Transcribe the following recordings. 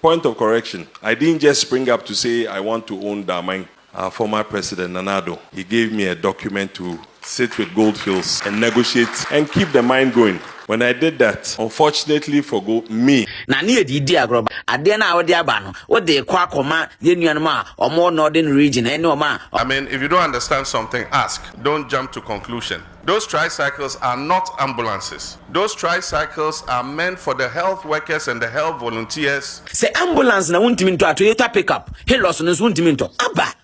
Point of correction, I didn't just spring up to say I want to own Daman, our former president Nana Addo, he gave me a document to sit with Gold Fields and negotiate and keep the mine going, when I did that, unfortunately for Go, me. Na ne yɛ didi agorɔ ba. Adeɛ no a wode aba no, wode rekɔ akɔma yɛn nuanom a wɔwɔ Northern Region ne wɔn a. I mean if you don't understand something ask, don't jump to conclusion. Those tricycles are not ambulances. Those tricycles are meant for the health workers and the health volunteers. Sɛ ambulance na wontumi ntɔ a Toyota pickup, Hilux no nso wontumi ntɔ. Aba!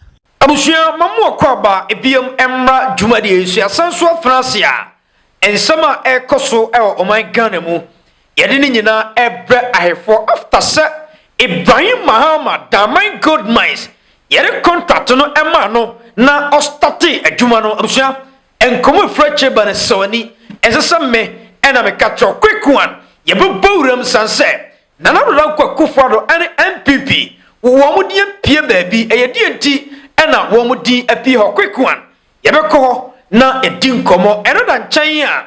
Abusua, ma mo akwaaba biam mmra dwumadie yi so. Yɛasan so afena ase a nsɛm a ɛrekɔ so wɔ ɔman Ghana mu Yɛde ne nyinaa brɛ ahefoɔ after sɛ Ibrahim Mahama Daman Gold Mines yɛde contract no maa no na ɔstartee adwuma no. Abusua, nkɔmmɔ ɛfiri akyire ba no sɔ ani, ɛnsɛ sɛ me na meka kyerɛ wo. Quick one, yɛbɛbɔ wuram sane sɛ Nana Addo Dankwa Akufo Addo ne NPP wɔn din apue baabi, ɛyɛ deɛ nti na wɔn din apue hɔ? Quick one, yɛbɛkɔ hɔ na yɛadi nkɔmmɔ, ɛno da nkyɛn a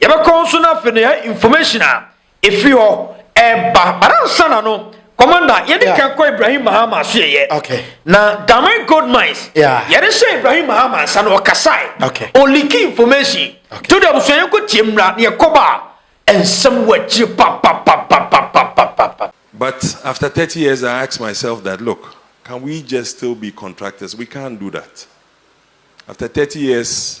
Yɛbɛkɔ nso na afei na yɛ information a efi hɔ ɛba but ansa na no commander yɛde yeah. kan kɔ Ibrahim Mahama so yɛyɛ okay. na Diamond Gold Mines yeah. yɛde hyɛ Ibrahim Mahama nsa na ɔkasae okay. ɔliki information okay. to de abusua yɛn kɔ tie mmra na yɛkɔba a nsɛm wɔ akyire papapapapapapapa. But after thirty years I ask myself that look can we just still be contractors we can't do that after thirty years.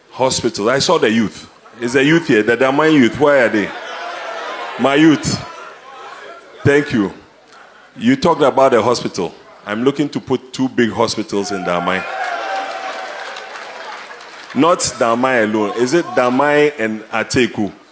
hospital I saw the youth is the youth here the Daman youth where are they my youth thank you you talked about the hospital I'm looking to put two big hospitals in Daman not Daman alone is it Daman and Ateku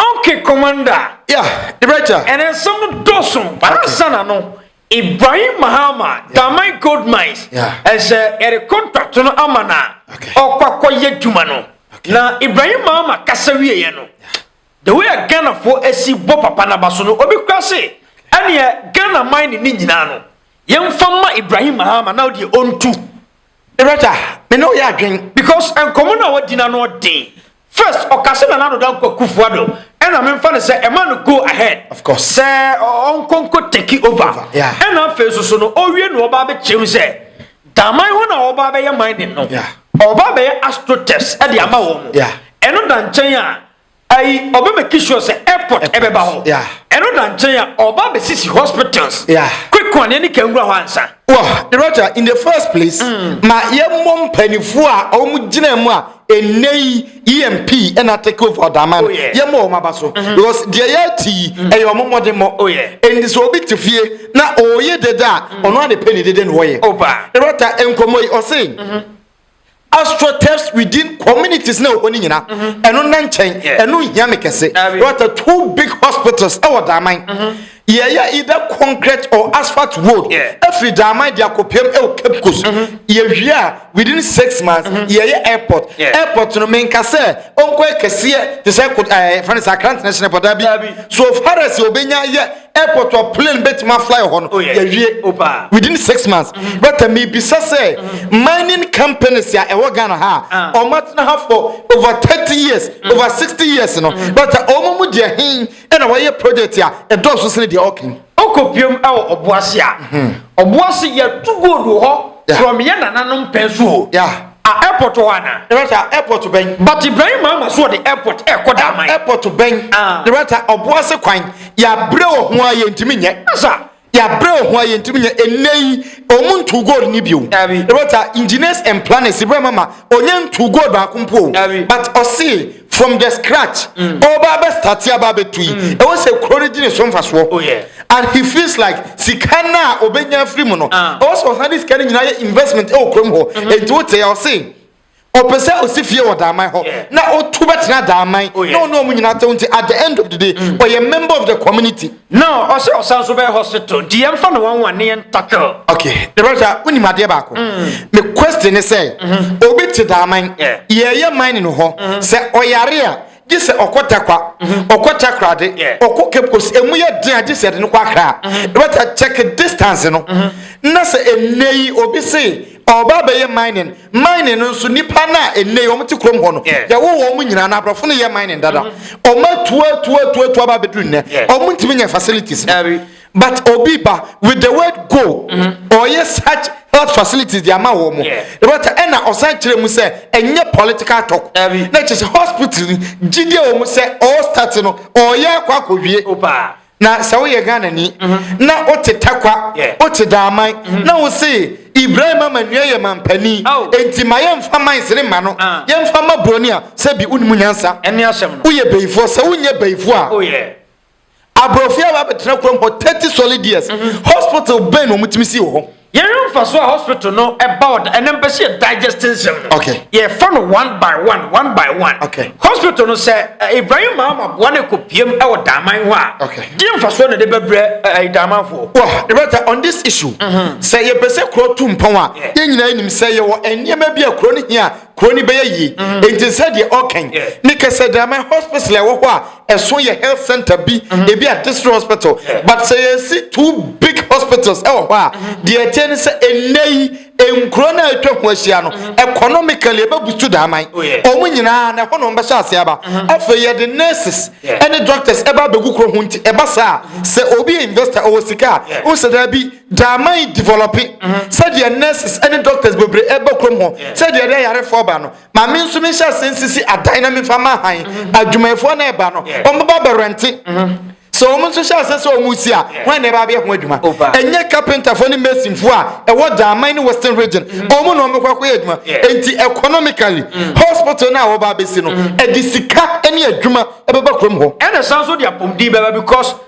Okay commander. Yeah, Director. Ɛnɛ nsɛm no dɔɔso ansa na no Ibrahim Mahama Damai Gold Mines ɛsɛ ɛde contract no ama na ɔkɔkɔ yɛ dwuma no na Ibrahim Mahama kasa wieɛ no the way a Ghanafoɔ asi bɔ papa no aba so no obi kora se ɛneɛ Ghana mine ne nyinaa no yɛmfa ma Ibrahim Mahama na ɔdeɛ ɔntu Director, me ne wo yɛ adwen because nkɔmmɔ no a wadi no ano den. First, ɔka sɛ Nana Ado Dankwa Kufuado ɛna memfa no sɛ ɛma no go ahead sɛ ɔnkɔ nkɔ take over. Ɛna afei nso so no ɔwie na ɔba abɛkyerɛ mu sɛ Daman hɔ na ɔba abɛyɛ mining no. Ɔba abɛyɛ astro test de ama wɔn. Ɛno da nkyɛn a, Ayi ɔbɛ make sure sɛ airport ɛbɛ ba hɔ. Ɛno da nkyɛn a ɔba bɛ sisi hospitals. Quick one yɛne ka nwura hɔ ansa. Wɔ director in the first place mm. ma yɛ mmɔ mpanimfoɔ a ɔmo gyina mu a ɛnɛ yi EMP ɛna take over ɔdama no oh, yɛ mmɔ ɔmo aba so mm-hmm. because deɛ yɛ ti yi mm. ɛyɛ ɔmo mmɔde mmɔ oh, ɛnti sɛ obi te fie na ɔyɛ dede a mm. ɔno ade pɛ ne dede na ɔyɛ. Director nkɔmɔ yi ɔse. Mm-hmm. astroturfs within communities na ɛwɔ ne nyina mhm. ɛno nna nkyɛn ɛno nhia me kɛse what are two big hospitals ɛwɔ daaman mhm. yɛyɛ either concrete or asphalt road ɛfiri daaman de akɔpɛm ɛwɔ cape coast mhm. yɛwie a within six months yɛyɛ airport airport no menka sɛ ɔnkɔ ɛkɛseɛ te sɛ ɛɛ fɛn sɛ akra international pɔtaabi so far as ɔbɛnya yɛ airport wɔ plane bɛtumi afly hɔ no yɛwie within six months mm-hmm. but uh, mebisa sɛ mm-hmm. mining companies a ɛwɔ ghana ha ah. ɔmatena ha for over 30 years mm-hmm. over 60 years no but uh, ɔma mu deɛ hen ɛna wɔyɛ project a ɛdɔɔso sene deɛ ɔken ɔkɔ biom ɛwɔ ɔboase a ɔboase yɛto gold wɔ hɔ from yɛ nananom pɛn so o A airport wɔ hɔ anaa? Ne rata airport bɛn? But Ibrahim Mahama so wɔde airport ɛkɔ da aman. Airport bɛn? Ah. Ne rata ɔboase kwan yɛabrɛ wɔ ho a yɛntumi nyɛ. Asa. Yɛabrɛ wɔ ho a yɛntumi nyɛ ɛnnɛ yi ɔmo ntu gold ne bio. Dabi. Ne rata engineers and planners Ibrahim Mahama ɔnya ntu gold baako mpo o. Dabi. But ɔsee. from the scratch ɔba mm. abɛ start aba abɛtu yi mm. ɛwɔ sɛ kuro no gye ne so mfasoɔ oh, and he feels like sika no a ɔbɛnya firi mu no ah. ɛwɔ sɛ ɔsan de sika no nyinaa yɛ investment ɛwɔ kurom hɔ mm-hmm. enti wote yɛ ɔse ɔpɛ sɛ ɔsi fie wɔ daaman hɔ na ɔtu bɛtena daaman oh, na ɔne ɔmo nyinaa tɛw nti at the end of the day ɔyɛ mm. member of the community No ɔsɛ ɔsan so bɛyɛ hospital nti yɛn fa no wɔn wɔn ne yɛn tackle. Okay, the brother sɛ wonim adeɛ baako. Mm. Me question ne sɛ, mm-hmm. obi te daaman, yɛyɛ mining hɔ, mm-hmm. sɛ ɔyare a, gye sɛ ɔkɔ takwa, mm-hmm. ɔkɔ takrade, ɔkɔ cape coast, emu yɛ den a gye sɛ ɛde no kɔ akra. The brother check distance no, na sɛ ɛnɛ yi obi se ɔba bɛyɛ mining. Mining no nso nipa no a ɛnɛ wɔn te kurom hɔ no yɛwo wɔn nyinaa na aborɔfo no yɛ mining dada mm-hmm. wɔn atuatuatuatu aba abɛduru nnɛ wɔn ntumi nyɛ facilities but obi ba with the word go mm-hmm. ɔyɛ such health facilities de ama wɔn but ɛna ɔsan kyerɛ mu sɛ ɛnyɛ political talk na kyerɛ sɛ hospital gyidie wɔn sɛ ɔɔ start no ɔyɛ akɔ akɔwie. na sɛ woyɛ ghanani mhm. na wote takwa wote daaman mhm. na wo se ibrahim ama nnua yɛ mampani enti ma yɛmfa man sere ma no ah. yɛmfa ma buroni a sɛ bi wonim nyansa woyɛ bayifoɔ sɛ wonyɛ bayifoɔ a oh, aborɔfoɔ a wɔabɛtena kurom hɔ 30 solid years mhm. hospital bɛn na ɔmotumi si wɔ hɔ Yɛnhwɛ mfaso a hospital no ɛba wɔ da ɛnam bɛsi yɛ digest nsɛm no. Okay. Yɛfa no one by one one by one. Okay. Hospital no sɛ eh, Ibrahim Mahama boa no ɛkɔ piem ɛwɔ daaman hɔ a. Okay. Di mfaso na de bɛbrɛ ɛɛ eh, daamanfoɔ. Wɔ ɛbɛta on this issue. Mm-hmm. Sɛ yɛpɛ sɛ kuro tu mpɔn a yɛn nyinaa nim sɛ yɛwɔ nneɛma bi a kuro no hia kuro no bɛyɛ yie mm-hmm. nti sɛdeɛ ɔkɛn ne kɛsɛ dama hospital a ɛwɔ hɔ a ɛso yɛ health center bi mm-hmm. ebi a district hospital but sɛ yɛsi two big hospitals ɛwɔ hɔ a mm-hmm. deɛ ɛteɛ ne sɛ ɛnɛ yi nkuro no a atwa ho ahyia no economically ɛbɛbusu daaman oh, wɔn nyinaa na ɛhɔ na wɔbɛhyɛ ase aba afei yɛde nurses ɛne doctors ɛba abɛgu kuro ho nti ɛba saa sɛ obi yɛ investor ɔwɔ sika a ɔsɛ daa bi Gyaaman yi develɔpe sɛdeɛ nurses ne doctors bebree ba kurom hɔ sɛdeɛ ɛde ayarefoɔ ba no ma me nso menhyɛ ase nsisi adan na memfa ma han adwumayɛfoɔ no ɛba no wɔbɛba bɛrɛnte sɛ wɔn nso hyɛ ase sɛ wɔn si a wɔn na ɛba abɛyɛ ho adwuma ɛnyɛ carpenterfoɔ ne masonfoɔ a ɛwɔ Gyaaman ne western region wɔn na wɔbɛkɔ akɔyɛ adwuma enti economically hospital no a wɔba abɛsi no ɛde sika ne adwuma ɛbɛba kurom hɔ ɛna san so de apɔmuden bɛba because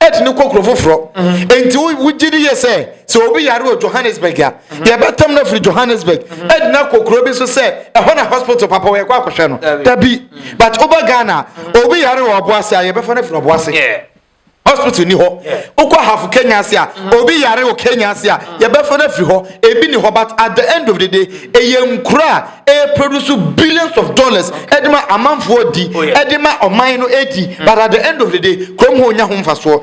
ɛtene kɔ kuro foforɔ enti wogye di yɛ sɛ sɛ obi yare wɔ johannesburg a yɛbɛtam no afiri johannesburg ɛde no akɔ kuro bi so sɛ ɛhɔ na hospital papa wɔ yɛkɔ akɔhwɛ no da bi but woba ghana obi yare wɔ ɔbo ase a yɛbɛfa no afiri ɔbo ase hospital ni hɔ wokɔ hafo kenya ase a obi yare wɔ kenya ase a yɛbɛfa no afiri hɔ ebi ni hɔ but at the end of the day ɛyɛ nkura a ɛreproduce billions of dollars ɛde ma amanfoɔ di oh, ɛde ma ɔman no ɛdi mm. but at the end of the day kurom hɔ nya ho mfasoɔ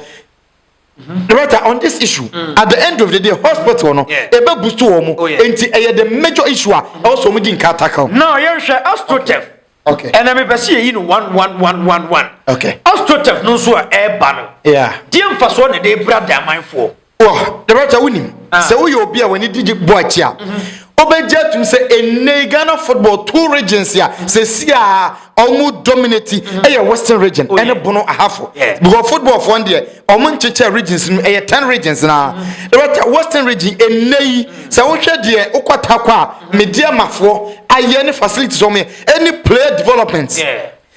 mm-hmm. right on this issue mm. at the end of the day hospital no ɛbɛ boost wɔn mu oh, nti ɛyɛ the major issue a ɛwɔ sɛ wɔn di nka tackle. na yɛhwɛ astrotef okay ɛnna mi pɛ si yɛ yi no one one one one one okay astrotef no nso a ɛɛba no deɛ nfa so na ɛde ebira de amanfoɔ. Dɛbɛta wonim ah. sɛ woyɛ obi a w'ani di bɔ akyi a wobɛgye mhm. atum sɛ ɛnnɛi ghana football two regions a mhm. sɛsi a ɔmo dominati mhm. ɛyɛ western region oh, ɛne bono ahafo because football foɔ deɛ ɔmo nkyekyɛ regions no ɛyɛ ten regions naa dɛbɛta western region ɛnnɛi sɛ wohwɛ deɛ wokɔtakɔ a medeɛ mafoɔ ayɛ ne facilities ɔmo yɛ ɛne player development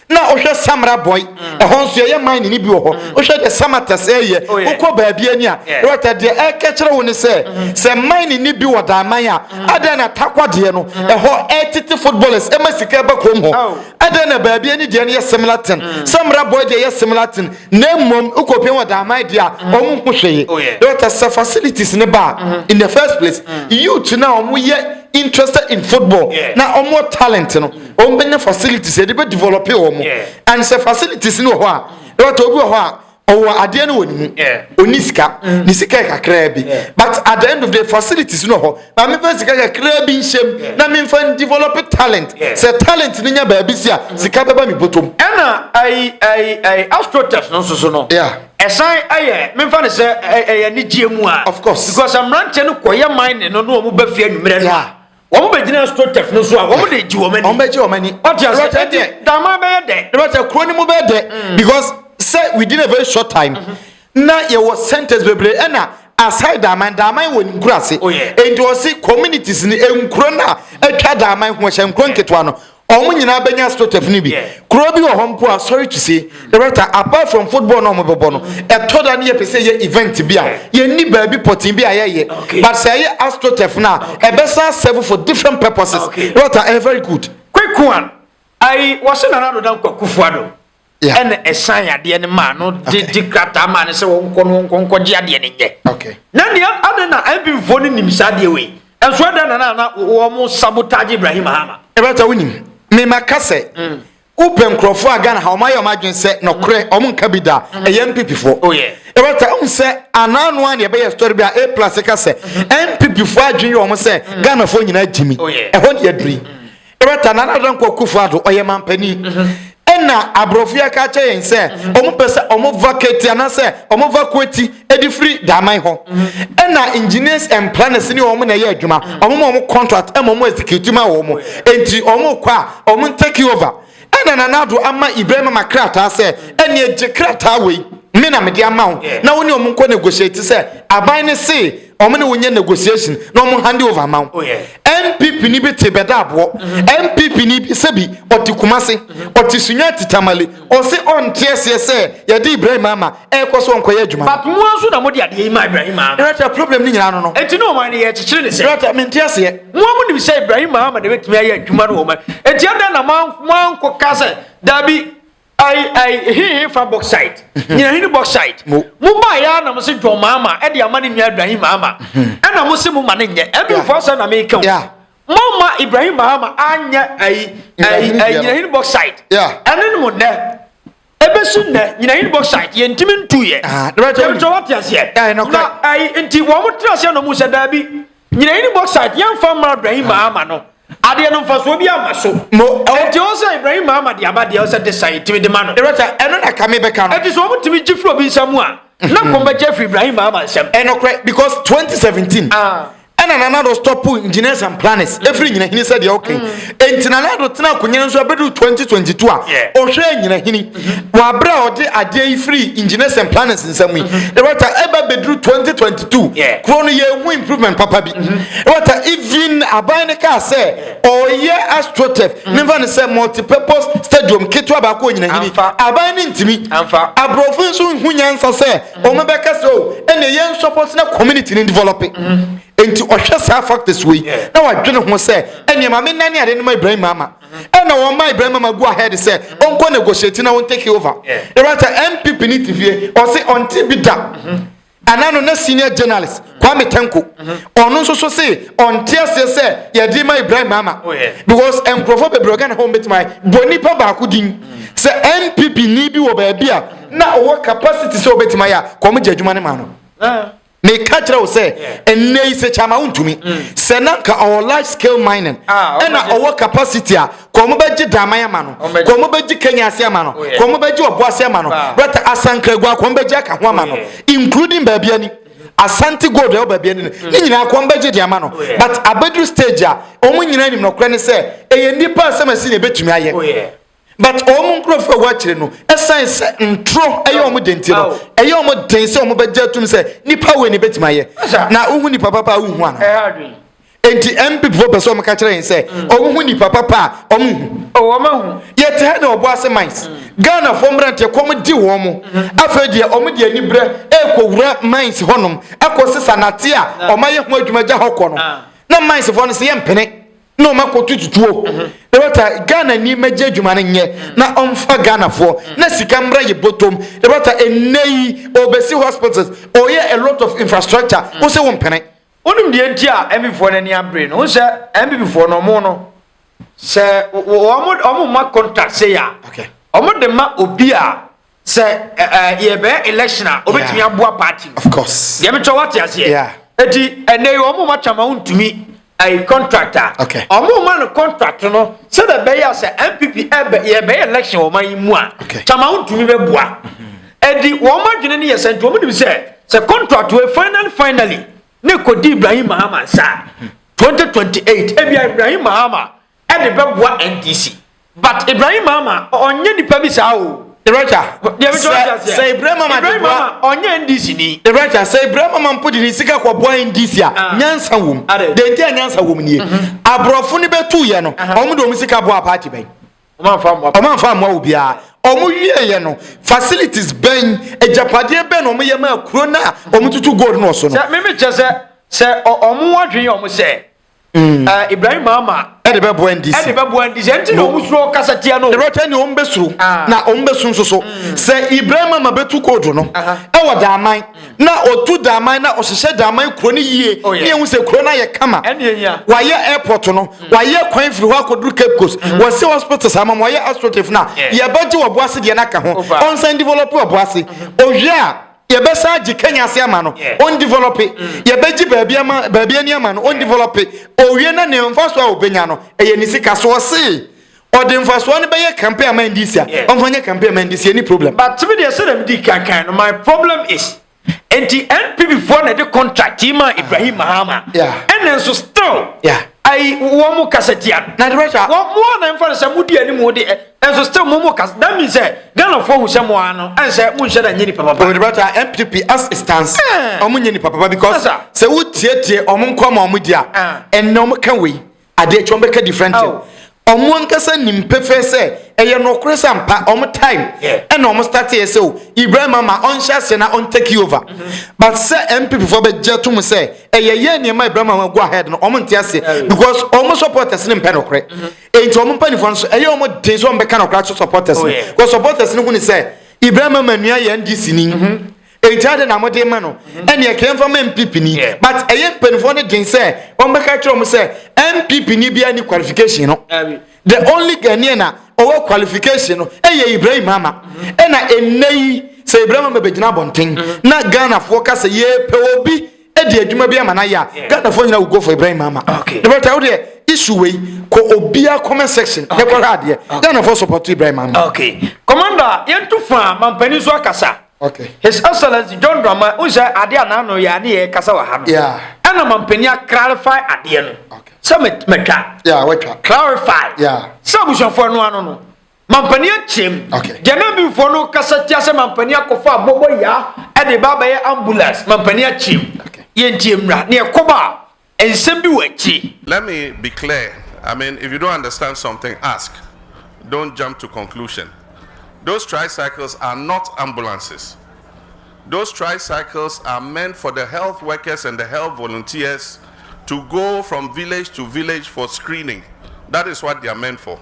na wohwɛ samara bɔe mm. ɛhɔ nso yɛyɛ mine no bi wɔ hɔ mm. wohwɛ deɛ samatas ɛyɛ oh, wokɔ baabi ani a rɛta deɛ ɛka kyerɛ wo ne sɛ mm-hmm. sɛ mine no bi wɔ daaman a mm. adɛn na takwa deɛ no ɛhɔ ɛtete footballers ɛma sika ba kurom hɔ oh. adɛn na baabi ani deɛ no yɛ similar ten samara bɔe deɛ yɛ similar ten na mmom wokɔpia wɔ daaman deɛ a ɔmo ho hwee rɛta oh, sɛ facilities ne ba mm-hmm. in the first place youth na ɔmo yɛ interested in football na ɔmo talent no wɔn bɛnya facilities yɛde bɛ develop wɔn and sɛ facilities no wɔ hɔ a ɛwɔtɔ obi wɔ hɔ a ɔwɔ adeɛ no wɔ ne mu ɔni sika mm. ne sika yɛ kakraa bi but at the end of the facilities no wɔ hɔ na mefa sika kakraa bi nhyɛm na memfa n develop talent sɛ talent no nya baabi si a mm. sika bɛba me bɔtɔm ɛna ayi ayi ayi astrotest no nso so no ɛsan ɛyɛ memfa ne sɛ ɛyɛ ne gyeɛ mu a of course because mmeranteɛ no kɔyɛ mine no na wɔn bɛ fie anwummerɛ no Wɔn bɛgyina Stotef no so a, wɔn de gye wɔn ani. Wɔn bɛgye wɔn ani. Ɔte ase ɛte deɛ. Dama bɛyɛ dɛ. Dama sɛ kuro no mu bɛyɛ dɛ. Mm. because sɛ within a very short time. Mm-hmm. na yɛwɔ centers bebree ɛna aside daaman daaman wɔ ne nkuro ase. Oh, nti ɔsi communities ni nkuro na atwa daaman ho ɛhyɛ nkuro nketewa no Wɔn nyinaa bɛnya Stotev no bi. Kuro bi wɔ hɔ mpo a, sorry to say, Loretta, apart from football no a wɔbɛbɔ no, ɛtɔ da no yɛpɛ sɛ yɛyɛ event bi a, yɛnni baabi pɔtee bi a yɛyɛ. But sɛ ɛyɛ Astotev no a, ɛbɛsan aserve for different purposes. Loretta, ɛyɛ very good. Kwekuan, Ayi, wɔse Nana Ado Dan Kwaku Fuado. Yeah. ɛna ɛsan adeɛ no maa no de Okay. de krataa maa no sɛ wɔnkɔ no wɔnkɔ nkɔgye adeɛ no nyɛ Okay. na nea ade na mpimfoɔ no nim saa adeɛ wei ɛnso ɛdɛ na na na wɔn sabotage ibrahim hama ɛbɛta wonim mema ka sɛ Mm. wopɛ nkurɔfoɔ a ghana ha ɔma yɛ ɔma adwene sɛ nɔkorɛ ɔmo nka bi da ɛyɛ mpipifoɔ Mm. Oh, yeah. ɛbɛta wohu sɛ anaa no a ne ɛbɛyɛ story bi a a plus ka sɛ mpipifoɔ adwene yɛ ɔmo sɛ ghanafoɔ nyinaa gyimi Mm. Oh, yeah. ɛhɔ ne yɛduri Yɛbɛta Nana Addo Dankwa Akufo Addo, ɔyɛ manpanin. Ɛna aborɔfo yi aka akyɛ yɛn sɛ wɔn pɛ sɛ wɔn vacate anaasɛ wɔn vacuate de firi Daman hɔ. Ɛna engineers and planners ne wɔn na ɛyɛ adwuma. Wɔn ma wɔn contract ɛma wɔn execute ma wɔn. Enti wɔn kɔ a wɔn take over. Ɛna Nana Addo ama Ibrahim ama krataa sɛ ɛneɛ gye krataa wei me na mede ama wo na wo ne wɔn nkɔ negotiate sɛ aban no se wɔn ne wonyɛ negotiation na wɔn hand over ma wo npp oh, ni bi te bɛda aboɔ npp mm-hmm. ni bi sɛbi ɔte kumase mm-hmm. ɔte sunya te tamale ɔse ɔnte aseɛ sɛ yɛde ibrahim ama ɛkɔ so ɔnkɔyɛ adwuma but mo nso na mo de adeɛ yi ma ibrahim ama rɛtɛ problem ni nyinaa no no eti ne wɔn yɛ kyekyere ne sɛ rɛtɛ mi nte aseɛ mo a mo nim sɛ ibrahim ama de bɛtumi ayɛ adwuma no wɔn eti ɛdɛ na mo ankɔ ka sɛ dabi Ai ai hehe fa bauxite nyina hene bauxite mo ba ya na mo se John Mahama e de ama ne nua Ibrahim Mahama e na mo se mo ma ne nyɛ e bi fo asem na me ka o mo ma Ibrahim Mahama anyɛ ai ai ai nyina hene bauxite ene ne mo nɛ ebesi nɛ nyina hene bauxite ye ntimi ntu ye ye to wate aseɛ na ai nti wɔn mo tra aseɛ na mo sɛ daabi Nyina yi ne bauxite yɛmfa mma Ibrahim Mahama no adeɛ no mfasoɔ bi ama so. Mo ɛwɔ. Ɛti ɔwɔ sɛ Ibrahim Mahama de aba deɛ ɔwɔ sɛ de san yɛtumi de ma no. Erɔta ɛno na ka mebɛka no. Ɛti sɛ wɔn tumi gye firi obi nsa mu a na mhm. kɔn bɛgye firi Ibrahim Mahama nsam. Ɛnokorɛ because 2017 ah. ɛna Nana Addo stop engineers and planners efiri nyina hini sɛ deɛ ɔkɛn. Mm. Enti Nana Addo tena akonya nso abɛduru 2022 a ɔhwɛɛ nyinahini mhm. wɔ abere a ɔde adeɛ yi firi engineers and planners nsam yi ɛwata mhm. ɛbɛ bɛduru 2022 kuro no yɛhu improvement papa bi ɛwata mhm. even aban no kaa sɛ ɔyɛ astrotef ne mfa no sɛ multipurpose stadium ketewa baako wɔ nyinahini aban no ntumi aborɔfo nso hu nyansa sɛ ɔmɛbɛka sɛ o oh, ɛne yɛn support na community no develop nti ɔhwɛ saa factors wei na wadwene ho sɛ ɛnneɛ ma menna ne ade no ma ibrahim ama ɛna wɔn ma ibrahim ama go ahead sɛ ɔnkɔ negotiate na wɔn take over ɛbɛta npp ne ti fie ɔse ɔnte bi da mhm. ana no na senior journalist kwame tanko mhm. ɔno nso so se ɔnte aseɛ sɛ yɛde ma ibrahim ama oh, because nkurɔfoɔ bebree ɔgana hɔ mbɛtumi bɔ nipa baako din mhm. sɛ npp ni bi wɔ baabi a na ɔwɔ capacity sɛ ɔbɛtumi ayɛ a kɔmgye adwuma ne ma no ah. meka kyerɛ wo sɛ ɛnnɛ yi sɛ kyama wontumi mm. sɛ na nka ɔwɔ large scale mining ah, ɛna ɔwɔ capacity a kɔn mo bɛgye daman ama no kɔn mo bɛgye kenya ase ama no oh, kɔn mo bɛgye ɔbo ase ama no brata asankragua kɔn bɛgye aka ho ama no oh, including baabi ani asante gold ɛwɔ baabi ani no mm. ne nyinaa kɔn bɛgye de ama no oh, but abɛduru stage a wɔn nyinaa nim nɔkorɛ ne sɛ ɛyɛ nnipa asɛm asi na ɛbɛtumi ayɛ but wɔn nkurɔfoɔ a wɔakyire no ɛsan sɛ ntoro ɛyɛ wɔn de nti no ɛyɛ wɔn den sɛ wɔn bɛgye atum sɛ nipa wei ne bɛtumi ayɛ na wohu nipa papa a wohu ana nti mpp fo pɛ sɛ wɔn ka kyerɛ yɛn sɛ mm. wɔn hu nipa papa a wɔn hu oh, wɔn ahu yɛte ha na ɔbɔ ase mines mm. ghana fo mmeranteɛ kɔm di wɔn mo mm-hmm. afei deɛ wɔn deɛ ani brɛ ɛkɔ wura mines hɔnom ɛkɔ sisa nate a wɔn ayɛ ho adwuma gya hɔ kɔ no ah. na mines fo no sɛ yɛ mpene. na ɔma kɔ tututuo mhm. na bata ghana ni mɛgye adwuma no nyɛ na ɔmfa ghanafoɔ mhm. na sika mmra yɛ bɔtɔm na bata ɛnnɛ yi ɔbɛsi hospitals ɔyɛ a lot of infrastructure mhm. wo sɛ wo mpene wonim deɛ nti a mbifoɔ no ani abere no wo sɛ mbibifoɔ no ɔmo no sɛ ɔmo ma contact sɛ yɛ a ɔmo de ma obi a sɛ yɛbɛyɛ election a obetumi aboa party of course deɛ metwa wate aseɛ eti ɛnna yi wɔn ma twama ntumi ɛyɛ contract a wɔn ma no contract no sɛdeɛ bɛyɛ sɛ npp ɛbɛ yɛbɛyɛ election wɔn ayi mu a twama ntumi bɛ boa ɛdi wɔn adwene ne yɛ sɛ nti wɔn nim sɛ sɛ contract wɔ finally finally ne kodi ibrahim mahama nsa twenty twenty eight ebi ibrahim mahama ɛde bɛboa NDC. But Ibrahim Mama ɔnyɛ nipa bi saa o. Ebrɛkya sɛ Ibrahim Mama de boa ɔnyɛ NDC ni. Ebrɛkya sɛ Ibrahim Mama mpo de ne sika kɔ boa NDC a ah. nyansa wom. Denti a nyansa wom nie. Mhm. Aborɔfo ne bɛtu yɛ no wɔn mhm. de wɔn sika boa party bɛn. Wɔn anfa mmoa wo biara. Wɔn wie yɛ no facilities bɛn agyapadeɛ bɛn na wɔn yɛ maa kuro na wɔn tutu gold no so no. Sɛ mímí kyɛ sɛ sɛ wɔn adwene wɔn sɛ. Mm. Eh, ibrahim ama ɛde bɛboa ndc ɛde bɛboa ndc ɛnti na ɔmo suro kasa tia no ɛbɛtwa ni ɔmo bɛsuro ah. na ɔmo bɛsu nso so mm. sɛ ibrahim ama bɛtu koodu no ɛwɔ daaman mm. na ɔtu daaman na ɔhyehyɛ daaman kuro no yie oh, ne ehu sɛ kuro no ayɛ kama wayɛ airport no wayɛ kwan firi hɔ akɔduru cape coast mm-hmm. wɔsi hospitals ama ma wɔyɛ astroturf na yɛbɛgye wɔboase deɛ no aka ho ɔnsan develop wɔboase ɔwie a Yɛbɛsan agye Kenya ase ama no, ɔndevelɔpe. Yɛbɛgye baabi ama baabi ani ama no, ɔndevelɔpe. Owie na ne mfasoɔ a ɔbɛnya no, ɛyɛ ne sika so. Ɔse ɔde mfasoɔ no bɛyɛ campaign ama NDC a, ɔmfa nyɛ campaign ama NDC, yɛnni problem. But me deɛ sɛdeɛ medii kan kan no, my problem is nti NPP foɔ na ɛde contract yi maa Ibrahim Mahama, ɛnna nso still ayi wɔn kasa tia no. Na de bɛhwɛ a. Wɔn a na ɛmfa no sɛ modi anim de. nso still mo mo kasa that means sɛ eh, ghana fo hu sɛ mo ano ɛnsɛ mo nhyɛ da nye nipa papa. ɔdibata oh, ah, npp as it stands ɔmo eh. nye nipa papa because sɛ wo tietie ɔmo nkɔ ma ɔmo di a ɛnna ah. ɔmo ka wei adeɛ akyi ɔmo bɛka different thing ɔmo oh. ankasa nim pefee sɛ ɛyɛ nɔkore sɛ mpa ɔmo time ɛna ɔmo start yɛ sɛ o ibrahim ama ɔnhyɛ ase na ɔntake you over mm-hmm. but sɛ npp fo bɛgye tom sɛ ɛyɛ yɛ nneɛma ibrahim ama go ahead no ɔmo nte ase because ɔmo supporters ne mpɛ nɔkore. Mm-hmm. Enti wɔn mpanyinfoɔ no so ɛyɛ wɔn den sɛ wɔn bɛka na ɔkora so supporters no. Because supporters no hu ne sɛ Ibrahim ama nua yɛ NDC ni. Mhm. Enti adi na wɔde ma no. Mhm. Ɛni ɛkɛyɛ nfa ma NPP ni. But ɛyɛ mpanyinfoɔ no den sɛ wɔn bɛka kyerɛ wɔn sɛ NPP ni bi ani qualification no. The only Ghanaian na ɔwɔ qualification no ɛyɛ Ibrahim ama. Mhm. Ɛna ɛnɛ yi sɛ Ibrahim ama bɛgyina abɔnten na Ghanafoɔ ka sɛ yɛpɛ obi. ɛde adwuma bi ama no ayɛ a ghanafoɔ nyina wogo for ibrahim ama ne bɛta wo deɛ isu wei kɔ obia comment section ne kɔhwɛ adeɛ ghanafoɔ support ibrahim ama commander yɛnto fa mampani so akasa Okay. His Excellency John Drama unhyɛ adeɛ a n'ano yɛ ne yɛ kasa wɔ ha no. Ɛna mampanin clarify adeɛ no. Sɛ mɛtwa. Clarify. Sɛ abusuafoɔ no ano no. Mampanin akyem. Okay. Deɛ na mbifoɔ no kasa tia sɛ mampanin akɔfa abɔbɔ yaa ɛde ba abɛyɛ ambulance mampanin akyem. Okay. Yɛn ti emra ne ɛkɔba a nsɛm bi wɔ akyire. Let me be clear. I mean if you don't understand something ask. Don't jump to conclusion. Those tricycles are not ambulances. Those tricycles are meant for the health workers and the health volunteers to go from village to village for screening. That is what they are meant for.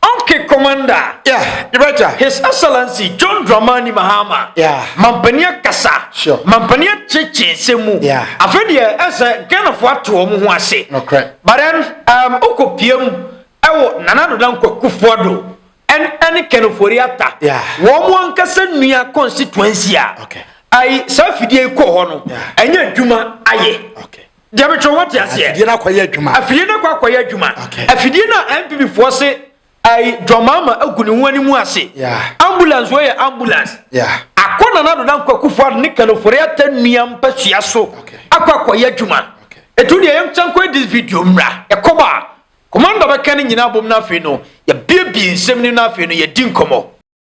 Ɔnkk Commander, Yeah, you betcha. His Excellency John Dramani Mahama, Yeah. Mampanin akasa, Sure. Mampanin akyekye nsɛm mu. Yeah. Afei deɛ ɛsɛ Ghanafoɔ ato wɔn ho ase. Nokorɛ. But then, um, wokɔ piam ɛwɔ Nana Doda Nkwakufoɔ do ɛne ɛne Ken Ofori-Atta. Yeah. Wɔn mo ankasa nua constituency a Okay. ayi saa fidie yi kɔɔ hɔ no Yeah. ɛnyɛ adwuma ayɛ. Okay. deɛ metwerɛ wate aseɛ afidie no akɔyɛ adwuma afidie no akɔ akɔyɛ adwuma afidie no a npp foɔ se ayi dwamaama agu ne ho anim ase ambulance wɔ yɛ ambulance akɔ na na doda nkwakufoɔ ado ne kanofore ata nnua mpasua so akɔ akɔyɛ adwuma ɛtu deɛ yɛm kyɛn kɔ this video mmra ɛkɔm a kɔmanda bɛka ne nyinaa bom no afei no yɛbiebie nsɛm no no afei no yɛdi nkɔmmɔ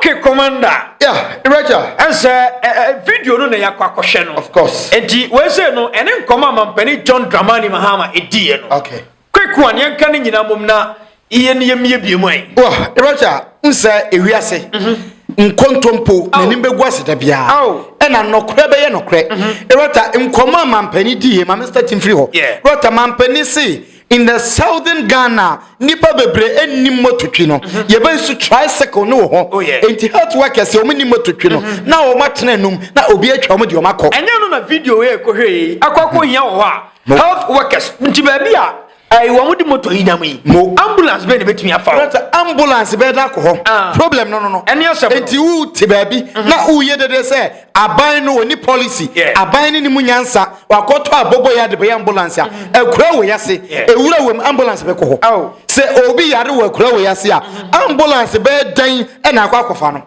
Okay commander. Yeah, Iraja. Ɛnsɛ ɛ ɛ video no na yakɔ akɔhwɛ no. Of course. Enti wei sɛ no ɛne nkɔmɔ a mampanin John Dramani Mahama ediiɛ no. Okay. Quick one yɛnka ne nyinaa mom na yɛn yɛn mmiebie mu ɛ. Wɔ Iraja nsɛ ewiase. Mhm. Nkontompo n'anim bɛgu ase da biara ɛna nnɔkorɛ bɛyɛ nɔkorɛ. Iraja nkɔmɔ a mampanin diiɛ ma Mr. Tim firi hɔ. Iraja mampanin se In the southern Ghana, nipa bebree ɛnni mmototwi no. Mhm. Yɛbɛ nso tricycle no wɔ hɔ. Oh, Enti health workers wɔn nni mmototwi no mhm. na wɔn atena num na obi atwa wɔn de wɔn akɔ. Ɛnyɛ no na video yɛ ekohwɛ yi akɔ akɔ hia wɔ hɔ a mhm. health workers nti baabi a ɛyi wɔn di moto yi nam yi. mo ambulance bɛyɛ na ebetumi afa o. sɛ ambulance bɛyɛ na akɔ hɔ. Ah. problem no no no. ɛni asɛm no. eti wu ti baabi. Mhm. na wu yɛ dede sɛ Aban no ɔnni policy, aban no nni mu nyansa, wakɔtɔ abobo yɛ adebɛyɛ ambulance a mm-hmm. akura wei ase, ɛwura wɔ mu ambulance bɛkɔ hɔ. Oh. Sɛ obi yare wɔ akura wei ase a mm-hmm. ambulance bɛyɛ dɛn ɛna akɔ akɔfa no.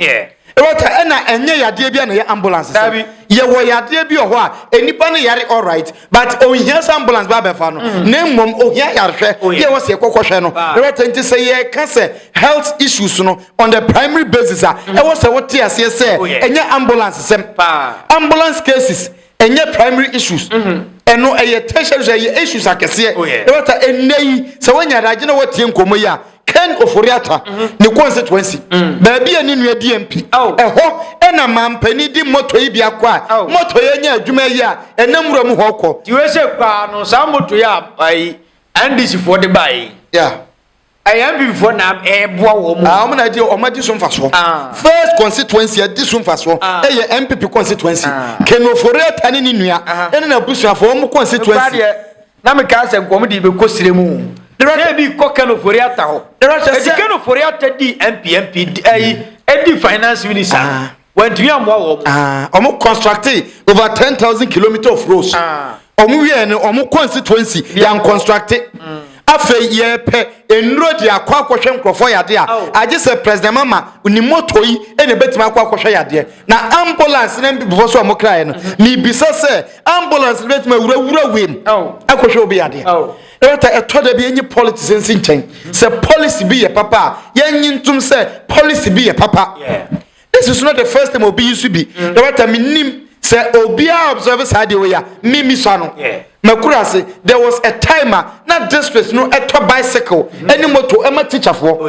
Ɛwɔta ɛna ɛnyɛ yadeɛ bi a na yɛ ambulance sɛ yɛwɔ yadeɛ bi wɔ hɔ a nnipa no yare alright but ohia sɛ ambulance ba bɛfa no mm. na mmom ohia yarehwɛ oh, yɛ wɔ sɛ yɛkɔkɔhwɛ no ɛwɛtɛ nti sɛ yɛka sɛ health issues no on the primary basis a mm. ɛwɔ sɛ wote aseɛ sɛ oh, ɛnyɛ ambulance sɛm ambulance cases ɛnyɛ primary issues mm-hmm. ɛno ɛyɛ tertiary ɛyɛ issues akɛseɛ oh, ɛwɛtɛ ɛnnɛ yi sɛ woanya adagye na woatie nkɔmmɔ yi a Ken Ofori-Atta ne constituency mm. baabi a ne nua di MP oh. ɛhɔ ɛna mampanin di moto yi bi akɔ a oh. moto yɛ nya adwuma yi a ɛnam wura mu hɔ kɔ. ti wei sɛ paa no saa moto yi a ayi NDC foɔ de baa yi. ɛyɛ NPP foɔ na ɛɛboa wɔn mu. Ah, wɔn na di wɔn adi so nfa so. Ah. first constituency ɛdi so nfa so ah. ɛyɛ NPP constituency Ken Ofori-Atta ne ne nua ɛne na busuafo wɔn constituency. Na mekaa sɛ, Nkɔm de bɛkɔ srɛ mu. Sɛ bi kɔ Ken Ofori-Atta hɔ. Enti Ken Ofori-Atta dii MP, MP, ayi, ɛdi finance minister no. Ah. Wantumi ammoa wɔn. Ah, wɔn constructe over 10,000 kilometres of roads. Ah. Wɔn wieɛ no, wɔn constituency yɛn constructe. Mm. Afei yɛpɛ nnuro de akɔ akɔhwɛ nkurɔfoɔ yadeɛ a oh. agye sɛ president mama ne moto yi na ɛbɛtumi akɔ akɔhwɛ yadeɛ na ambulance na before so wɔn kraeɛ no mebisa mm-hmm. sɛ Ambulance no bɛtumi awura wura wim akɔhwɛ obi adeɛ. Ɛwata ɛtɔ da bi enyi politics nsi nkyɛn. Mm-hmm. Sɛ policy bi yɛ papa a yɛnyi ntom sɛ policy bi yɛ papa. This is not the first time obi yi so bi. Mm. Ɛwata mi nim sɛ obiara observe saa deɛ oya mi mi so ano. Makura ase there was a time a na district no ɛtɔ bicycle ɛne mm-hmm. moto ɛma teacherfoɔ. Oh,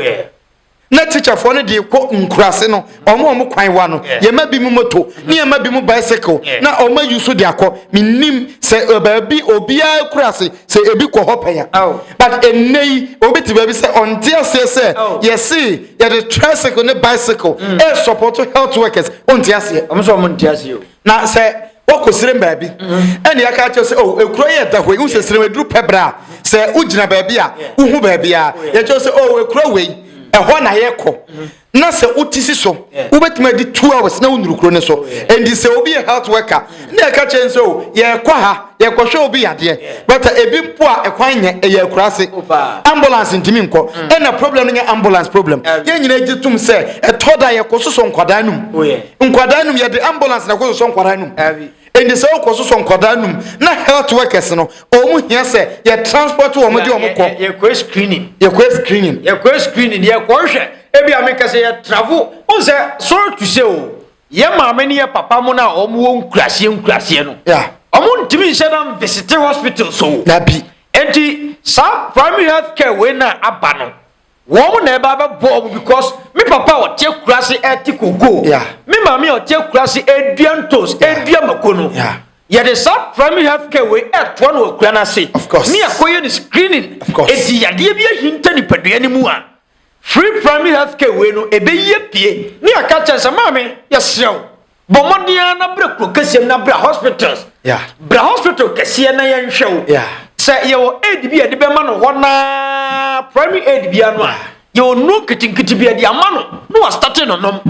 na tikyafoɔ no deɛ kɔ nkuraase no ɔmo ɔmo kwan wa no yɛma bi mu moto ne yɛma bi mu bicycle na ɔmo ayi so de akɔ menim sɛ baabi obiara kuraase sɛ ebi kɔ hɔ pɛn a oh. but ɛnnɛ yi obi te baabi sɛ ɔnte aseɛ sɛ oh. yɛse yɛde tricycle ne bicycle ɛsupporto mm. health workers ɔnte aseɛ ɔmo sɛ ɔmo nte aseɛ na sɛ wɔkɔ serem baabi ɛne yɛka akyerɛ sɛ oh, ekuro yɛ da hoi wohu sɛ serem aduru pɛ berɛ a sɛ wogyina baabi a wohu baabi a yɛkyerɛ sɛ oh, ekuro wei ɛhɔ na yɛkɔ na sɛ wote si so wobɛtumi adi two hours na wonuru kuro no so ɛnti sɛ obi yɛ health worker ne ɛka kyerɛ sɛ oh, yɛkɔ ha yɛkɔhwɛ obi yadeɛ but ebi mpo a ɛkwan nyɛ ɛyɛ akura ase ambulance ntumi nkɔ mm. ɛna problem no nyɛ ambulance problem yɛn nyinaa gye tom sɛ ɛtɔ da yɛkɔ soso nkwadaa no mu oh, nkwadaa num yɛde ambulance na ɛkɔsosɔ nkwadaa num ɛnti sɛ wokɔsosɔ nkwadaa num na health workers no wɔn hia sɛ yɛ transport wɔn de wɔn kɔ yɛkɔ screening yɛkɔ screening yɛkɔ screening yɛkɔ hwɛ ebi a meka sɛ yɛ travel wɔn sɛ sorry to say o yɛ maame ne yɛ papa mo na wɔn wɔ nkuraseɛ nkuraseɛ no wɔn ntumi nhyɛ na visite hospital so dabi ɛnti saa primary health care wei na aba no. Wɔn na ɛba bɛbɔ wɔn because me papa a ɔte akurase ɛte koko. Yeah. Me maame a ɔte akurase ɛdua ntos, ɛdua mako no. Yeah. Yɛde saa primary health care wei ɛtoa no akura no ase. Of course. Ne akɔyɛ ne screening. Of course. Eti yadeɛ bi ahinta nipadua no mu a free primary health care wei no ɛbɛyi apue ne aka kyɛn sɛ maame yɛsrɛ wo Bɔ mmɔden ara na brɛ kuro kɛseɛ no na brɛ hospitals. Brɛ hospital kɛseɛ na yɛnhwɛ wo. Sɛ yɛwɔ aid bi a yɛde bɛma no hɔ naa primary aid bia no a yɛwɔ nnuro nketenkete bi yɛde ama no na wastate no nom.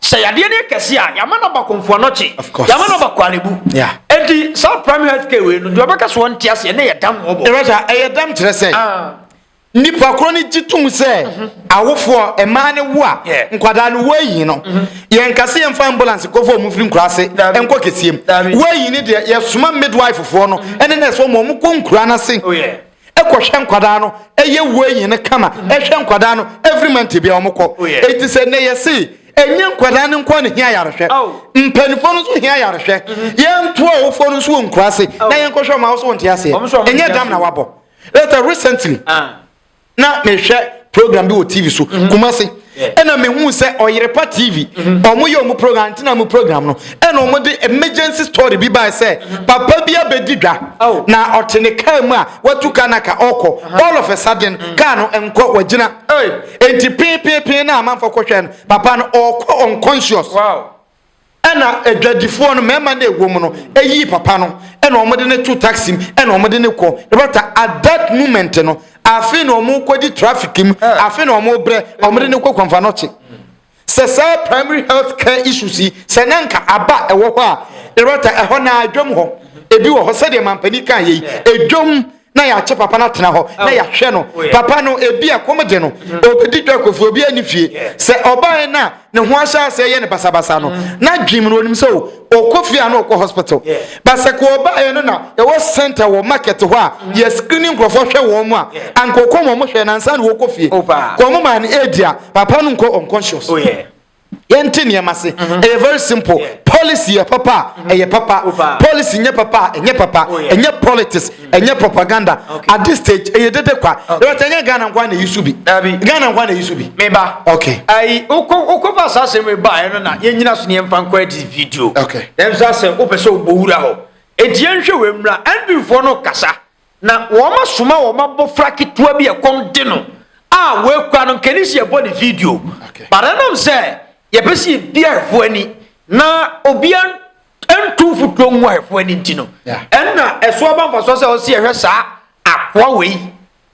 Sɛ yadeɛ no yɛ kɛseɛ a yɛama no aba Komfoanɔkye, yɛama no aba Korle-Bu. Enti saa primary health care wei no deɛ ɔbɛka so ɔnte aseɛ na ɛyɛ dam wɔ bɔ. Ɛyɛ dam kyerɛ sɛ ah. Nnipa korɔ no gye tom sɛ awofoɔ, mmaa no wo a, nkwadaa no wɔayi no. Yɛnka sɛ yɛmfa ambulance nkɔfa wɔn mfiri nkura ase nkɔ kɛseɛ mu. Wɔayi no deɛ, yɛsoma midwife foɔ no ne nurse foɔ ma wɔn kɔ nkura no ase kɔhwɛ nkwadaa no, ɛyɛ wɔayi no kama, ɛhwɛ nkwadaa no every month bia wɔn kɔ. Eti sɛ nnɛ yɛse ɛnyɛ nkwadaa no nkoa na hia ayarehwɛ, mpanimfoɔ no nso hia ayarehwɛ. Yɛnto awofoɔ no nso wɔ nkura ase na yɛnkɔhwɛ wɔn a, wo so wonte aseɛ? Ɛnyɛ dam na wabɔ. Later recently, ah. na mehwɛ program bi wɔ TV so, mm-hmm. Kumasi. ɛna mehu sɛ ɔyerepa tv mhm. ɔmo yɛ ɔmo program antena ɔmo program no ɛna ɔmo de emergency story bi baa sɛ mhm. papa bi abɛdi dwa oh. na ɔte ne kaa mu a watu kaa na ka ɔkɔ uh-huh. all of a sudden mm. kaa no nkɔ wagyina enti pinpinpin na amanfo kɔhwɛ no papa no ɔkɔ unconscious Ɛna adwadifoɔ no mmarima no ɛwɔ mu no ɛyii papa no ɛna wɔn de no to taxi mu ɛna wɔn de no kɔ ɛbata at that moment no afe na wɔn kɔ di traffic mu eh. afe na wɔn brɛ wɔn de no kɔ kwanfa no kye sɛ saa primary health care issues yi sɛ na nka aba ɛwɔ hɔ a ɛbata ɛhɔ na adwam hɔ ebi wɔ hɔ sɛdeɛ mampanin kan yɛ yi adwam. na yɛakyɛ papa no atena hɔ na yɛahwɛ no papa no ebi a kɔm de no ɔbɛdi dwa kɔfi obi ani fie sɛ ɔbaeɛ no a ne ho ahyɛ aseɛ yɛ ne basabasa no na dwem no ɔnim sɛ ɔkɔ fie a na ɔkɔ hospital ba sɛ kɔ ɔbaeɛ no na ɛwɔ center wɔ market hɔ a yɛ screening nkurɔfoɔ hwɛ wɔn mu a anka ɔkɔ wɔn hwɛ nansa na wɔkɔ fie kɔm maa no ɛdi a papa no nkɔ unconscious Yɛnte nneɛma ase. Mm-hmm. Ɛyɛ very simple. Yeah. Policy yɛ papa a mm-hmm. ɛyɛ papa. Opa. Policy nyɛ papa a ɛnyɛ papa. Oh, yeah. Ɛnyɛ politics, mm-hmm. ɛnyɛ propaganda. Okay. At this stage, ɛyɛ dede kwa. Okay. Ɛwɔ ɛnyɛ Ghana nkwa na eyi so bi. Dabi. Ghana nkwa na eyi so bi. Meba. Okay. Ayi okɔ okɔ fa saa asɛm eba ayɛ no na yɛn nyina so ne yɛn fa nkɔ ɛdi video. Okay. Ɛm sɛ asɛ o pɛ sɛ o bɔ wura hɔ. Eti yɛn hwɛ wɔ emura NB foɔ no kasa. Na wɔasoma wɔn abofra ketewa bi a ɛkɔm de no a wɔakura no nkani sɛ yɛbɔ ne video. But ɛnam sɛ yɛpɛ sɛ yɛbi ahwɛfoɔ ani na obiara ntu mfutuo ngu ahwɛfoɔ ani nti no, ɛnna ɛso aba mfasoɔ sɛ ɔsɛ yɛhwɛ saa akoa wei,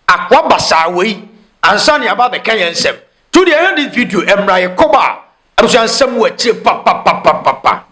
akoa basaa wei, ansa na yɛaba abɛka yɛn nsɛm. Tu deɛ ɛhwɛ de video mmra yɛkɔba a Abusua nsɛm wɔ akyire papapapapa.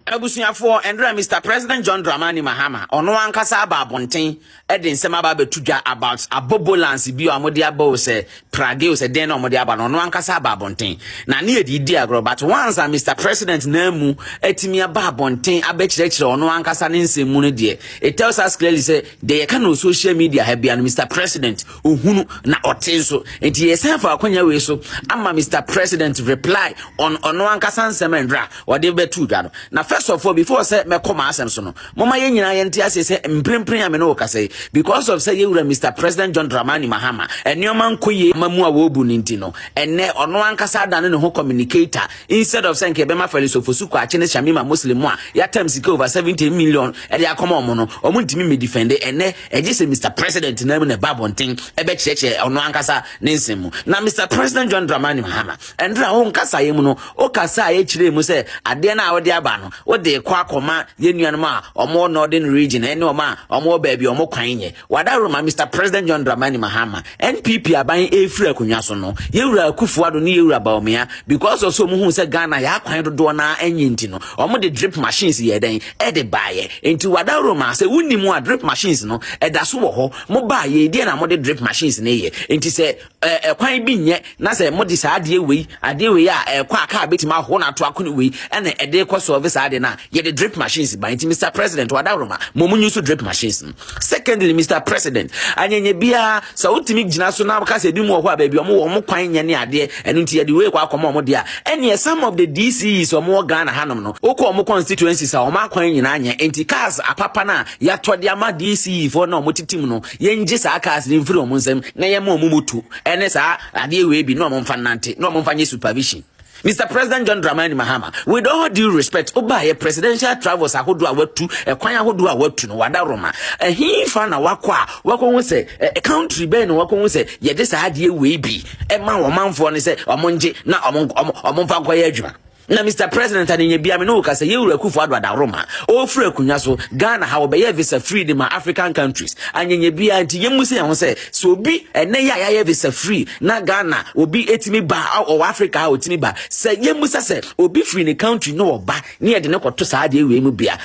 Abusuafoɔ, ɛnora Mister President John Dramani Mahama, ɔno ankasa aba abonten de nsɛm aba abɛto dwa about abobolance bi a wɔde aba o sɛ prage o sɛ dɛn na wɔde aba no, ɔno ankasa aba abonten. Na ne yɛde di agorɔ, but once a Mister President nan mu atumi aba abonten abɛkyerɛkyerɛ ɔno ankasa ne nsɛm mu no deɛ, it tells us clearly sɛ deɛ yɛka no wɔ social media ha bia no, Mister President, ohunu na ɔte nso nti yɛsan fa akwanya wei so ama mr president reply on ɔno ankasa nsɛm ndra ɔde bɛtu dwa no na first of all before sɛ mɛkɔ ma asɛm so no moma yɛn nyinaa yɛnte ase sɛ mprempren a me ne wɔkasa yi because of sɛ yɛwura mr president john dramani mahama nneɛma nkɔ yie ma mu a wɔbu no nti no ɛnɛ ɔno ankasa adane ne ho communicator instead of sɛ nka ɛbɛma farisofosu kɔ akye ne shamima muslim a yɛatam sika over 70 million ɛde akɔma ɔmo no ɔmo ntumi mmɛdifɛnde ɛnɛ Ɛgye sɛ Mister President no ara mu na ɛba abɔnten bɛkyerɛkyerɛ ɔno ankasa ne nsɛm mu. Na Mister President John Dramani Mahama, ɛnde na wo nkasaeɛ mu no, wokasaeɛ kyerɛɛ mu sɛ adeɛ no a wode aba no, wode rekɔ akɔma yɛn nuanom a wɔwɔ Northern Region ne wɔn a wɔwɔ baabi a wɔn kwan nyɛ. Wada roma Mister President John Dramani Mahama NPP aban ɛrefiri akonnwa so no, Yewura Akufo Addo ne Yewura Bawumia, because of sɛ wɔn hu sɛ Ghana yɛ akwan dodoɔ no ara nye nti no, wɔn de drip machines yɛɛ dɛn? Ɛde baeɛ. Nti Wadaworo maa sɛ wonni mu a drip machines no ɛda so wɔ hɔ, mo baeɛ, deɛ na mo de drip machines no yɛ? Nti sɛ ɛɛ ɛkwan bi nyɛ Na sɛ mode saa adeɛ wei, adeɛ wei a ɛkɔ a kaa bɛtumi ahohoro no ato akone wei ɛna ɛde kɔ sɔɔve saa adeɛ no a, yɛde drip machines ba. Nti Mister President, Wadaworoma, mmom nyi so drip machines no. Secondly, Mister President, anyanya biara, sɛ wotumi gyina so na woka sɛ ebi mu wɔ hɔ a baabi a wɔn wɔ wɔn kwan nyɛ ne adeɛ, ɛno nti yɛde wei kɔ akɔma wɔn deɛ a, ɛneɛ some of the DCEs wɔn wɔ Ghana hanom no, wokɔ wɔn constituencies a wɔn akwan nyinaa nyɛ. Nti cars apapa no a yɛatɔ de ama DCE foɔ no a wɔte tim no, Yɛngye saa cars no mfiri wɔn nsam na yɛma wɔn moto ne saa adeɛ wei bi na wɔn mfa nnante na wɔn mfa nyɛ supervision. Mr. President John Dramani Mahama, with all due respect, wobaayɛ presidential travels ahodoɔ a watu, ɛkwan ahodoɔ a watu no, wada Roma. Ɛhefa na wakɔ a wakɔhu sɛ ɛ country bɛn na wakɔhu sɛ yɛde saa adeɛ wei bi ɛma wɔn manfoɔ no sɛ wɔn ngye na wɔn wɔn wɔn mfa nkɔyɛ adwuma. Na Mister President anenya bia me ne wo kasa yɛ wura Akufo Addo Adaworoma ɔfiri akonya so Ghana ha wɔbɛyɛ visa free de ma African countries anyenya bia nti yɛ mu sɛ yɛn ho sɛ sɛ obi ɛnɛ yɛ a yɛayɛ visa free na Ghana obi etimi ba ɔwɔ Africa ha otimi ba sɛ yɛ mu sɛ sɛ obi free ne country no ɔba ne yɛde ne kɔto saa adeɛ wei mu bia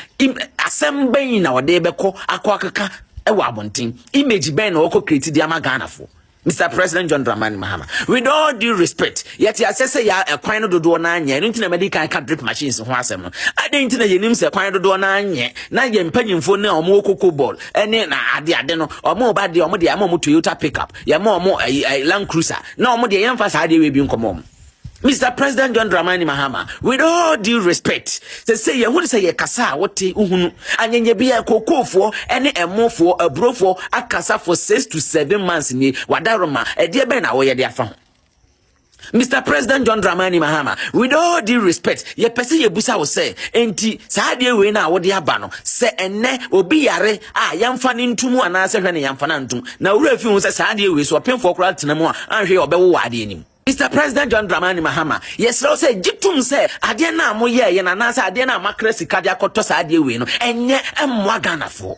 asɛm bɛn na ɔde bɛkɔ akɔ akeka ɛwɔ abɔnten image bɛn na ɔkɔ kreti de ama Ghana fo Mister President John Dramani Mahama, with all due respect, yɛte aseɛ sɛ yɛ ɛkwan no dodoɔ no anyɛ, ɛno nti na madi kan ka drip machines ho asɛm no. Adɛn nti na yɛnim sɛ kwan dodoɔ no anyɛ na yɛn mpanyimfoɔ no a wɔwɔ koko ball ne na ade ade no, wɔn ba deɛ wɔn deɛ ama wɔn Toyota pickup, yɛma wɔn ɛyi Land Cruiser, na wɔn deɛ yɛmfa saa adeɛ wei bi nkɔmɔ wɔn. Mr. President John Dramani Mahama, with all due respect, sɛ sɛ yɛhu sɛ yɛkasa a wote wohunu anyɛnyɛ bi a kookoofoɔ ne ɛmofoɔ aburofoɔ akasa for six to seven months nie wadaroma ɛdeɛ bɛn na wɔyɛ de afa ho Mr. President John Dramani Mahama, with all due respect, yɛ pɛ sɛ yɛbusa wo sɛ, enti saa adeɛ wei no a wode aba no, sɛ ɛnnɛ obi yare a yɛmfa no ntom anaasɛ hwɛ ne yɛmfa no antom, na wura fi ho sɛ saa adeɛ wei so ɔpemfoɔ koraa tena mu a anhwɛ yɛ ɔbɛwo wɔ adeɛ no mu. Mister President John Dramani Mahama, yɛsrɛ wo sɛ gye tom sɛ adeɛ no a moyɛɛ yɛn anaasɛ adeɛ no a moakra sika de akɔtɔ saa adeɛ wei no, ɛnyɛ mmoa Ghanafoɔ.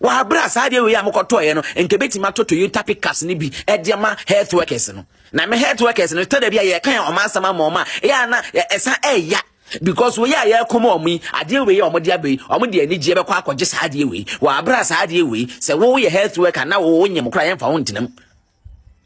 Wɔ aberɛ a saa adeɛ wei a mokɔtɔɔeɛ no, nka ɛbɛtumi atɔ Toyota pickups no bi de ama health workers no. Na me health workers no, tɔ da bi a yɛka yɛn ɔma asɛm ama ɔma a, ɛyɛ a na ɛsan ɛya because wei a yɛkɔm ɔmo yi adeɛ wei a ɔmo de aba yi ɔmo de anigyeɛ bɛkɔ akɔgye saa adeɛ wei wɔ aberɛ a saa adeɛ wei sɛ woyɛ health worker na wo nyem koraa yɛmfa wo ntenam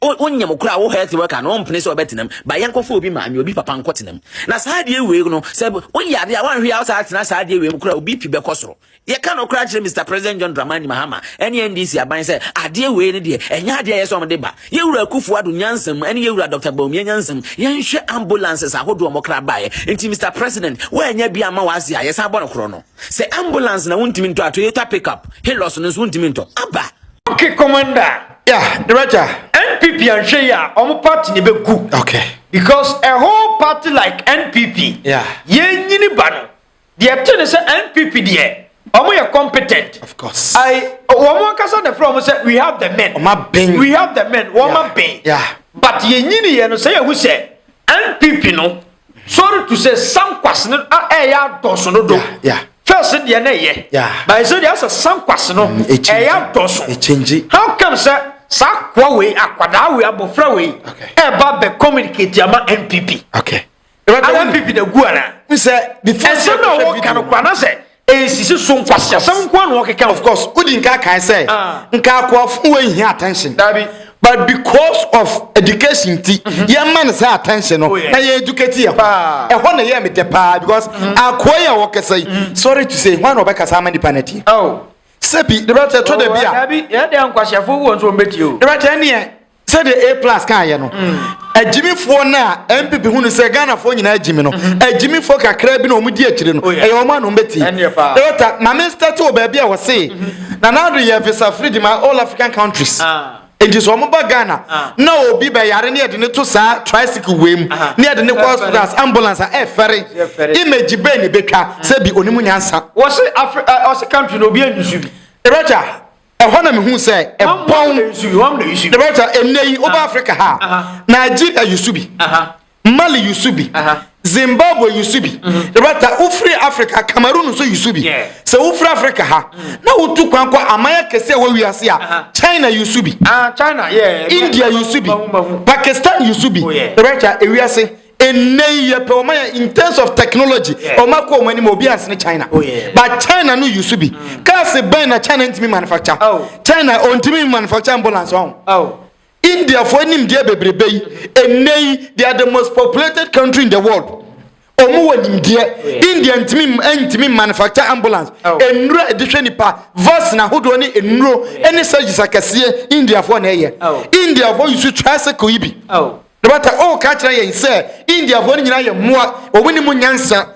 wonyam kura wo health worker no ɔmpene sɛ ɔbɛtenam ba yɛnkɔfa obi maame obi papa nkɔtenam na saa adeɛ wei no sɛ woyɛ adeɛ a woanhwɛ a wosaa tena saa adeɛ wei mu kura obi pi bɛkɔ soro yɛka no kora kyerɛ Mr President John Dramani Mahama ɛne NDC aban sɛ adeɛ wei no deɛ ɛnyɛ adeɛ a yɛ sɛ ɔmde ba yɛwura Akufo Addo nyansam ɛne yɛwura Dr Bawumia nyansam yɛnhwɛ ambulances ahodoɔ ɔmɔkra baeɛ nti Mr President woanya bi ama wase a yɛsan bɔ no korɔ no sɛ ambulance na wontumi ntɔ a Toyota pickup Hilux no nso wontumi ntɔ aba Okay, commander. Yeah, director. NPP and Shea, our party never good. Okay. Because a whole party like NPP, yeah, yen yini bano. The attorney said NPP there. Omo yɛ competent. Of course. I omo ankasa na from say we have the men. Omo ben. We have the men. Omo yeah. ben. Yeah. But yɛ nyini yɛ no sɛ yɛ hu sɛ NPP no. Sorry to say, sankwas no a ɛyɛ adɔso no do. First deɛ na ɛyɛ. By so deɛ asɛ sankwas no mm, ɛyɛ adɔso. How come sɛ saa koa wei akwadaa wei abɔfra wei ɛba bɛ communicate ama NPP? Ana NPP na gu ana? Ɛsɛ na wɔka no kwa na sɛ. Nsisi so nkwaseasɛm nko ara na ɔkeka. Of course, wodi nka kae sɛ nka akoafo wei hia attention. Dabi. But because of education nti, yɛma no saa attention no na yɛn educate yɛn ho. Ɛhɔ na ɛyɛɛ me dɛ paa because akoa yi a ɔkasa yi, sorry to say, hwan na ɔbɛkasa ama nnipa no atie? Sɛbi, Liberata, ɛtɔ da bi a. Dabi, ɛyɛ dɛ a nkwaseafo wɔ nso wɔn bɛtie o. Liberata, ɛneɛ sɛdeɛ a plus kaayɛ no agyimifoɔ no a mpp hu no sɛ ghanafoɔ nyinaa agyimi no agyimifoɔ kakra bi na wɔn di akyire no ɛyɛ wɔn anom bɛti ɛta maame stati wɔ baabi a wɔse na n'ado yɛ visa free di ma all african countries nti sɛ wɔn ba ghana na obi bɛyare ne yɛde ne to saa tricycle wei mu ne yɛde ne kɔ hospitals ambulance a ɛfɛre image bɛn ne bɛtwa sɛ bi onimu nyansa wɔse afri ɔse country na obi anyusu bi ɛbɛtwa ɛhɔ na mehu sɛ ɛbɔn the right ɛnɛ yi woba africa ha nigeria yusu bi mali yusu bi zimbabwe yusu bi the right wofiri africa cameroon nso yusu bi sɛ wofiri africa ha na wotu kwan kɔ aman akɛse a ɛwɔ wiase a china yusu bi india yusu bi pakistan yusu bi the right ewiase ɛnnɛ yi yɛpɛ wɔn ayɛ in terms of technology wɔn akɔ wɔn anim obi ansene china oh, but china no yusu bi mm. cars bɛn na china ntumi manufacture oh. china ɔntumi manufacture ambulance ɔn oh. indiafoɔ anim deɛ bebrebe yi ɛnnɛ yi they are the most populated country in the world wɔn wɔ nimdeɛ india ntumi ntumi manufacture ambulance nnuro a ɛde hwɛ nipa vaccine ahodoɔ ne nnuro ne surgeries akɛseɛ indiafoɔ na ɛyɛ indiafoɔ yusu tricycle yi bi. No bata o ka kyerɛ yɛn sɛ Indiafoɔ no nyinaa yɛ mmoa wɔn ni mu nyansa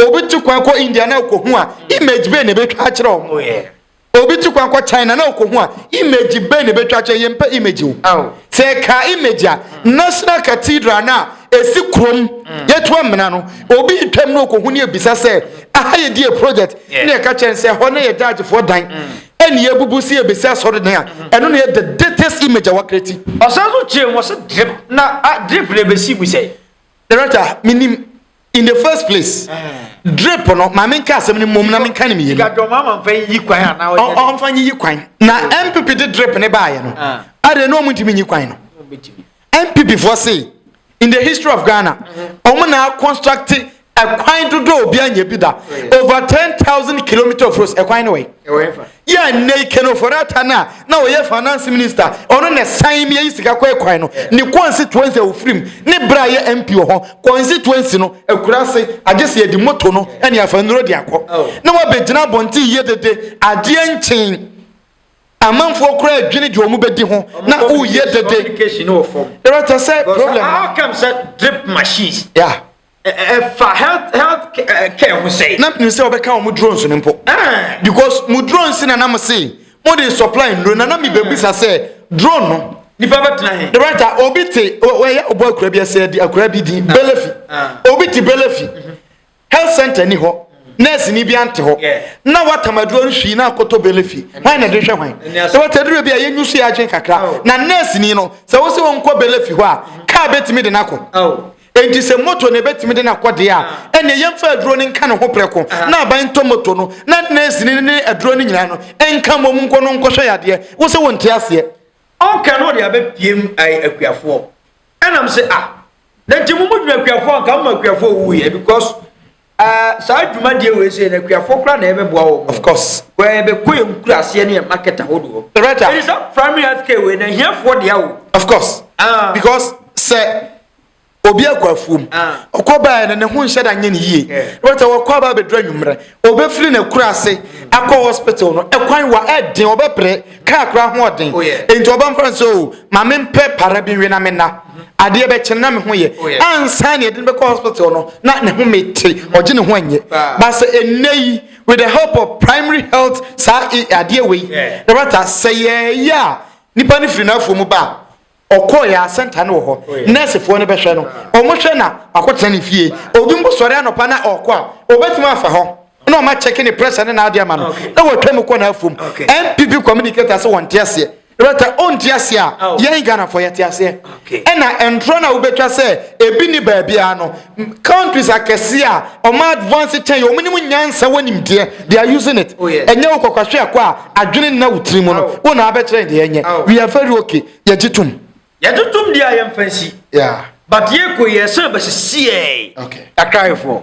obi tu kwan kɔ India na ɔkɔhu a image bɛn na ɛbɛtwa akyerɛ wɔn obi tu kwan kɔ China na ɔkɔhu a image bɛn na ɛbɛtwa akyerɛ yɛn mpɛ image o sɛ ɛka image a national cathedral na ɛsi kurom yɛtu amena no obi twam na ɔkɔhu ne ɛbisa sɛ aha yɛ die project ne ɛka kyerɛ sɛ hɔ na yɛ judgefoɔ dan ɛne yɛbubu sɛ yɛbɛsi asɔredan a ɛno na yɛ the datest image a wakreti ɔsan so kyerɛ mu ɔsɛ drip na drip na ɛbɛsi mu sɛ director menim in the first place drip no ma menka asɛm no mmom na menka ne meyɛ ɔmfa nyiyi kwan na mpp de drip ne baeɛ no adeɛ na ɔmo ntumi nyi kwan no NPP foɔ se in the history of Ghana, wɔn na construct ɛkwan dodo a obi anyɛ bi da. Over 10,000 kilometer of roads, ɛkwan no wɔ yi. Yɛ nnɛ yi Ken Ofori-Atta no a na ɔyɛ finance minister, ɔno na ɛsan mi ayi sika kɔ ɛkwan no. Ne constituency a ofirim, ne bra yɛ MP wɔ hɔ, constituency no, akura ase, agye sɛ yɛde moto no ne afa nnuro de akɔ. Na wabɛgyina abɔnten yɛ dede, adeɛ nkyen. Amanfoɔ koraa dwene deɛ wɔn bɛdi ho na woyɛ dede. Communication no wɔ fam. Ɛrɛ tɛ sɛ Because problem. how come sɛ drip machines Ya. ɛ- ɛ- ɛfa health health ca- ɛ, care ho sɛe? Na nim sɛ wɔbɛka wɔn drones no mpo. Ah, Because mo drones na nam se mo de supply nnuro na na mi bebisa sɛ drone no. nipa bɛtena he? The writer obi te o- wɔyɛ ɔbɔ akura bi ɛsɛ di akura bi di belefi Ah. obi te belefi health center ni hɔ nurse ni bi ante hɔ na wata maduro no hwii na akoto bele fi hwan na de hwɛ hwan sɛ wata duro bi a yɛnyu so yɛ adwene kakra oh. na nurse ni no sɛ wo sɛ wɔnkɔ bele fi hɔ a kaa bɛtumi de no akɔ oh. enti sɛ moto na ɛbɛtumi de no akɔ deɛ a ah. ɛneɛ yɛmfa aduro no nka ne ho prɛko ah. na aban ntɔ moto no na nurse ni ne aduro no nyinaa no ɛnka mmom nkɔ no nkɔhwɛ yadeɛ wo sɛ wonte aseɛ ɔnka no ɔde abɛpiem akuafoɔ Ɛna me se ah na nti mo mo dwene akuafoɔ anka mo ma akuafoɔ wu yɛ because uh, saa dwumadie wei sɛ na akuafoɔ kora na ɛbɛboa wɔn of course wɛɛ bɛkɔ yɛ nkura aseɛ ne yɛ market ahodoɔ right ɛne sɛ primary health care wei na ahiafoɔ deɛ wo of course ah. because sɛ obi akɔ afuom ah. ɔkɔ baɛ no ne ho nhyɛ da nyɛ ne yie wɛtɛ wɔkɔ aba bɛdura nwummerɛ Obefiri n'akurase akɔ hospital no, ɛkwan wa ɛden, ɔbɛpere, kaa kora ho ɔden. Oh, Enti ɔba mfra nso, o, oh, ma mempɛ para bi nwe na menna. Adeɛ bɛkyɛ na me ho yɛ. Oh, Ansa ne ɛden bɛkɔ hospital no, na ne ho mete, ɔgye ne ho anyɛ. Ba sɛ ɛnnɛ yi, with the help of primary health saa adeɛ wei, na bata sɛ yɛɛyɛ a, nipa no firi n'afuo mu ba a, Ɔkɔɔ yɛ asɛnta no wɔ hɔ. Nɛɛsefoɔ no bɛhwɛ no. Wɔhwɛ na wakɔtena ne fie. Obi mpo sɔre anɔpa na ɔrekɔ a, wɔbɛtumi afa hɔ na wɔn akyɛke ne pressure ne n'adeɛ ama no na wɔatwa mu kɔ n'afuom. NPP communicator sɛ wɔnte aseɛ. Loretta, ɔnte aseɛ a, yɛn Ghanafoɔ yɛte aseɛ. Ɛna ntorɔ no a wobɛtwa sɛ ebi nni baabiara no, countries akɛse a ɔmo advance kyɛn ɔmo nim nyansa wɔ nimdeɛ they are using it oh, ɛnyɛ wo kɔkɔhwe akɔ a adwene nna wo tiri mu no wo na abɛkyerɛ deɛ ɛnyɛ we are very okay yɛgye tom yɛgye tom deɛ a yɛmfa nsi but yɛkɔ yɛ sɛ bɛsisiɛ akraefoɔ